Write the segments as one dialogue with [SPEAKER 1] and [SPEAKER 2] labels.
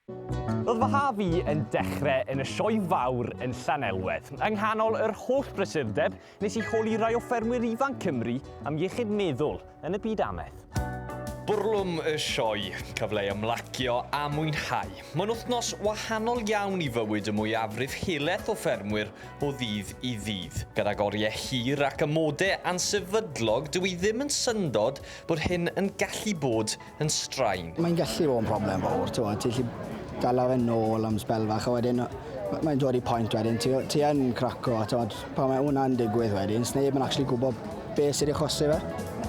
[SPEAKER 1] Roedd fy haf i yn dechrau yn y Sioe Fawr yn Llanelwedd. Yng nghanol yr holl brysurdeb, nes i holi rai o ffermwyr ifanc Cymru am iechyd meddwl yn y byd amaeth. Bwrlwm y Sioe, cyfle i ymlacio a mwynhau. Mae'n wythnos wahanol iawn i fywyd y mwyafrif helaeth o ffermwyr o ddydd i ddydd. Gydag oriau hir ac amodau ansefydlog, dw i ddim yn syndod bod hyn yn gallu bod yn straen. Mae'n gallu bod yn broblem
[SPEAKER 2] fawr, ti'n gwybod, ti'n gallu dala fe nôl am sbel fach a wedyn mae'n dod i pwynt wedyn, ti, ti yn craco, ti'n gwybod, pan mae hwnna'n digwydd wedyn, sneb yn actually gwybod beth sydd wedi achosi fe.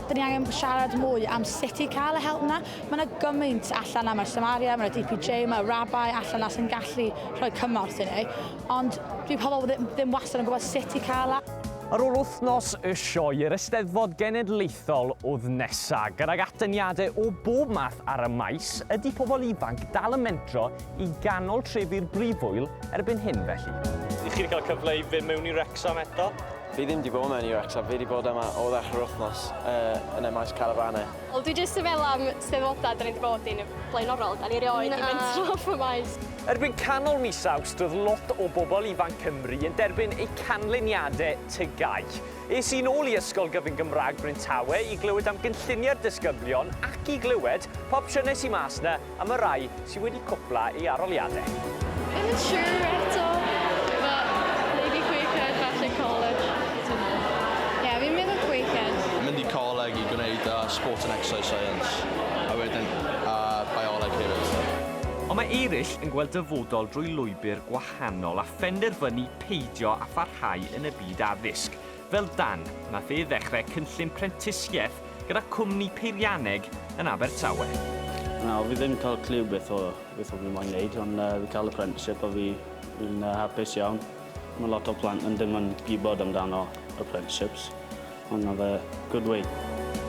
[SPEAKER 2] Dyn ni angen
[SPEAKER 3] siarad mwy am sut i cael y help yna. Mae yna gymaint allan na, mae'r Samaria, mae'r DPJ, mae'r Rabbi allan na sy'n gallu rhoi cymorth i ni. Ond dwi pobl ddim, ddim wastad yn gwybod sut i cael e. Ar ôl wythnos
[SPEAKER 1] y sioe i'r Eisteddfod Genedlaethol w'th nesa, gydag atyniade o bob math ar y maes, ydi pobol ifanc dal yn mentro i ganol trefi'r Brifwyl erbyn hyn felly? Ydych chi wedi cael cyfle i fyn mewn i Wrecsam eto? Fi ddim di bod mewn
[SPEAKER 4] i Wrecsam, fi di bod yma o ddechr yr wythnos yy yn y maes carafane. Wel dwi jyst yn meddwl
[SPEAKER 5] am Steddfoda 'da ni di bod i'n flaenorol, 'da ni rioed di mentro off y maes. Erbyn canol
[SPEAKER 1] mis Awst roedd lot o bobl ifanc Cymru yn derbyn eu canlyniadau TGAU. Es i'n ôl i Ysgol Gyfun Gymraeg Bryntawe i glywed am gynlluniau'r disgyblion ac i glywed pa opsiynau sy mas 'na am y rhai sy wedi cwpla ei aroliadau. Ddim yn
[SPEAKER 5] siŵr eto, but maybe Quakehead, falle college, I don't know. Ie, fi'n meddwl Quakehead. Mynd i coleg i
[SPEAKER 6] gwneud yy Sport and Exercise Science a wedyn yy Bioleg hefyd. Ond mae eraill
[SPEAKER 1] yn gweld dyfodol drwy lwybr gwahanol a phenderfynu peidio â pharhau yn y byd addysg, fel Dan, nath e ddechrau cynllun prentisiaeth gyda cwmni peirianneg yn Abertawe. Na, fi ddim
[SPEAKER 7] yn cael cliw beth o beth o fi moyn neud, ond yy fi cael apprenticeship a fi fi'n yy hapus iawn. Ma' lot o plant yn dim yn gwybod amdano apprenticeships. Hwn oedd y good way.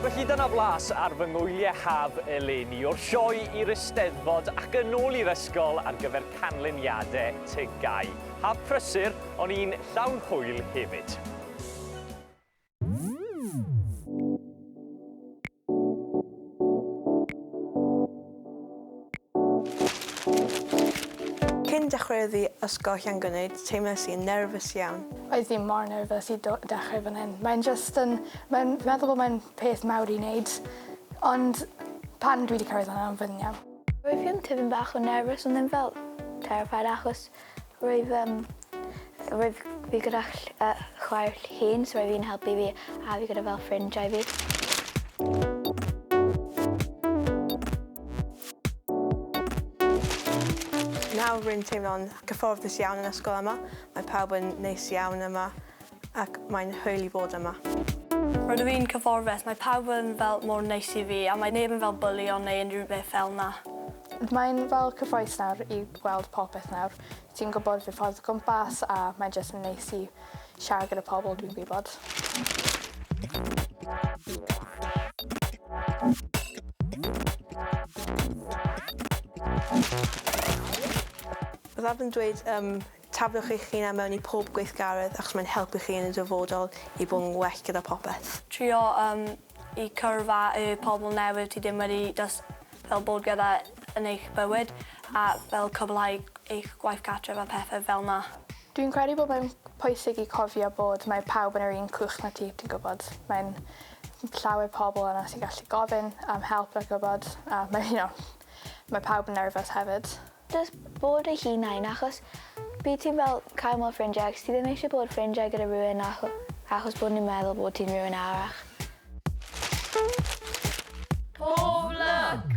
[SPEAKER 7] Felly dyna
[SPEAKER 1] flas ar fy ngwyliau haf eleni, o'r sioe i'r Eisteddfod ac yn ôl i'r ysgol ar gyfer canlyniadau TGAU. Haf prysur, ond un llawn hwyl hefyd.
[SPEAKER 8] Cyn dechreuodd fi ysgolhe'n gwneud, teimlais i'n nerfus iawn. Oedd fi mor nerfus
[SPEAKER 9] i do- dechreu fan hyn. Mae'n jyst yn... Mae'n... Fi'n meddwl bod mae'n peth mawr i wneud, ond pan dwi 'di cyrraedd fan'na, fi'n iawn. Roedd fi yn tipyn bach
[SPEAKER 10] o nerfus ond ddim fel terrified achos Roedd yym roedd fi gyda ll- yy chwaer llun so oedd 'i'n helpu fi a fi gyda fel ffrindiau fi.
[SPEAKER 8] Nawr rwy'n teimlo'n gyfforddus iawn yn ysgol yma, mae pawb yn neis iawn yma. ac mae'n hwyl i fod yma. Rydw i'n
[SPEAKER 5] cyfforddus, mae pawb yn fel mor neis i fi a mae neb yn fel bwlio neu unrhyw beth fel 'na. Mae'n fel
[SPEAKER 9] cyffrous nawr i weld popeth nawr, ti'n gwybod fy ffordd o gwmpas a mae'n jyst yn neis i siarad gyda pobl dwi'n gwybod. Byddaf yn dweud
[SPEAKER 8] yym Tafiwch eich hunan mewn i pob gweithgaredd achos mae'n helpu chi yn y dyfodol i bod yn well gyda popeth. Trio um,
[SPEAKER 5] i cyrff a y pobl newydd ti ddim wedi dys fel bod gyda yn eich bywyd a fel cwblhau eich gwaith cartref a pethau fel na. Dwi'n credu bod mae'n
[SPEAKER 9] pwysig i cofio bod mae pawb yn yr un cwch na ti, ti'n gwybod. Mae'n llawer pobl yna sy'n gallu gofyn am help a gwybod, a mae, you know, mae pawb yn nerfus hefyd. Jyst bod
[SPEAKER 10] eich hunain achos bydd ti'n fel cael mwy o ffrindiau ac ti ddim eisiau bod ffrindiau gyda rhywun acho- achos bod nhw'n meddwl bod ti'n rhywun arall. Pob lwc!